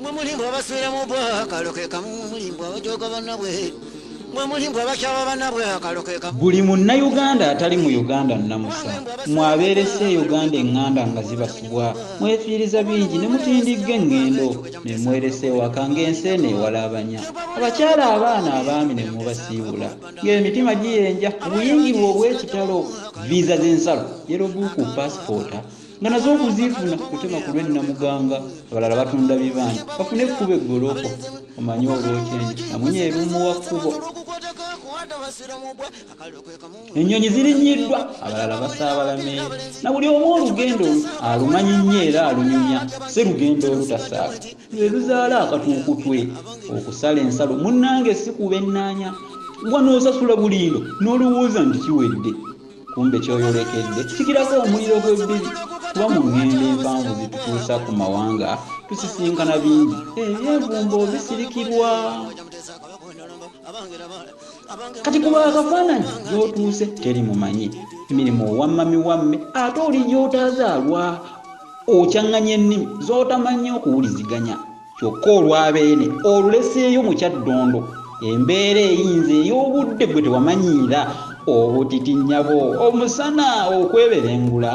mwe mulimba abaswera mu bwa akalo ke kamu mulimba abajoga banabwe mwe mulimba abakyaba banabwe akalo ke kamu buli munnayuganda atali mu uganda nnamusa mwabeeresa e uganda eŋŋanda nga zibasubwa mwefiiriza bingi ne mutindigga eŋŋendo ne mweresa ewaka ng'ensi eno ewalaabanya abakyala abaana abaami ne mubasiibula ng'emitima giyenja obuyingirwa obw'ekitalo viiza z'ensalo yerobuuku paasipoota nga nazo okuziifuna kutema ku lwennamuganga abalala batunda bibaani bafune ekkuba eggoloko omanyi olwokyenyi amunye erumuwa kkubo ennyonyi zirinyiddwa abalala basaabala meeri na buli omu olugendo olu alumanyi nnyo era alunyumya si lugendo olutasaala lwe luzaala akatuukutwe okusala ensalo munnange si kuba ennaanya gwa n'osasula bulindo n'olowooza nti kiwedde kumbe kyoyolekedde kikirako omuliro gw'ebbiri kuba mu ŋŋendo empanvu zitutuusa ku mawanga tusisinkana bingi ebyevumbo bisirikirwa kati kuba akafaananyi gy'otuuse teri mumanyi emirimu owammami wamme ate oli gy'otazaalwa okyaŋŋanya ennimi z'otamannyi okuwuliziganya Kyokka olwa Beene oluleseeyo mu Kyaddondo, embeera eyinze ey'obudde gwe tewamanyiira, obutiti nnyabo, omusana okweberengula,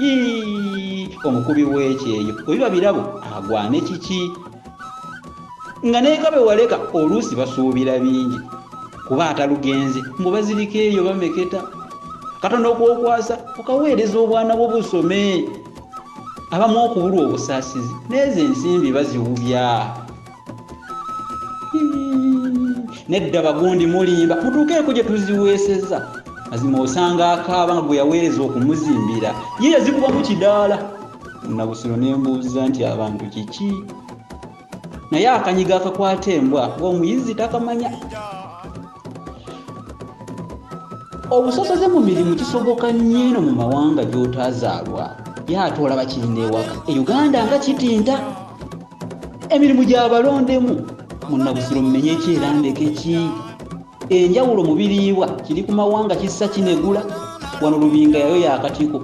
yii, omukubi w'ekyeyo bwe biba birabo agwane kiki? Nga n'eka be waleka oluusi basuubira bingi kuba atalugenze mbu bazirika eyo bameketa, katono k'okwasa okaweereza obwana bwo busome. abamu okubulwa obusaasizi neezo ensimbi baziwubya nedda bagundi mulimba mutuukeeko gye tuziweeseza mazima osanga akaaba nga gwe yaweereza okumuzimbira ye yazikubamu kidaala nabusiro ne mbuuza nti abantu kiki naye akanyiga akakwata embwa ng'omuyizzi takamanya obusosoze mu mirimu kisoboka nnyo eno mu mawanga gy'otaazaalwa ye ate olaba kirina ewaka e uganda nga kitinta emirimu gyabalondemu munabusiro mumenye ekyerandekekyii Enjawulo mu biriibwa kiri ku mawanga kissa kinegula, wano Lubinga yayoya akatiko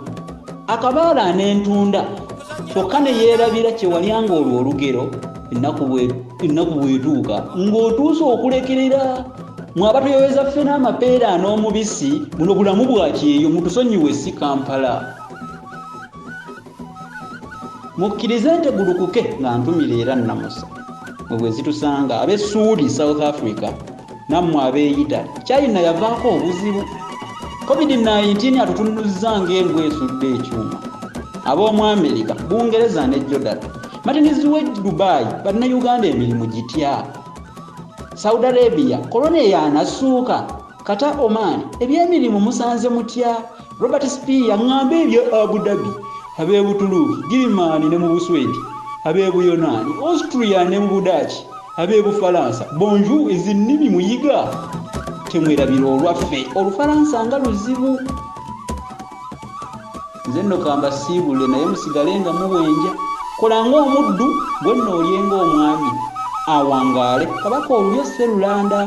akabaala n'entunda kyokka ne yeerabira kye walya ng'olwo olugero ennaku bw'etuuka ng'otuuse okulekerera mwaba tuyoweza ffe n'amapeera n'omubisi buno bulamu bwa kyeyo mutusonyiwe si kampala Mukkirize ntegulukuke nga ntumira era nnamusa. Mwe bwe zitusanga ab'e Ssuuli, South Africa, nammwe ab'e Italy, China yavaako obuzibu. Covid nineteen atutunnuzza ng'embwa esudde ekyuma. Ab'omu Amerika, Bungereza ne Jordan, Martins w'e Dubai, Bannayuganda emirimu gitya? Saudi Arabia, Corona eyaanasuuka? Kata Oman ebyemirimu musanze mutya? Robert Spear ŋŋambe ebye Abu Dhabi, ab'e Butuluuki, Girimaani ne mu Buswedi, ab'e Buyonaani, Austria ne mu Budaaki, ab'e Bufalansa. Bonjour ezi nnimi muyiga temwerabira olwaffe Olufalansa nga luzibu. Nze nno ka mbasiibule naye musigale nga muwenja. Kola ng'omuddu, gwe nno olye ng'omwami. Awangaale Kabaka olulyo Sserulanda!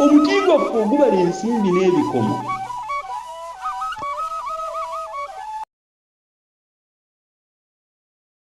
Omuti gwaffe ogubala ensimbi n'ebikomo.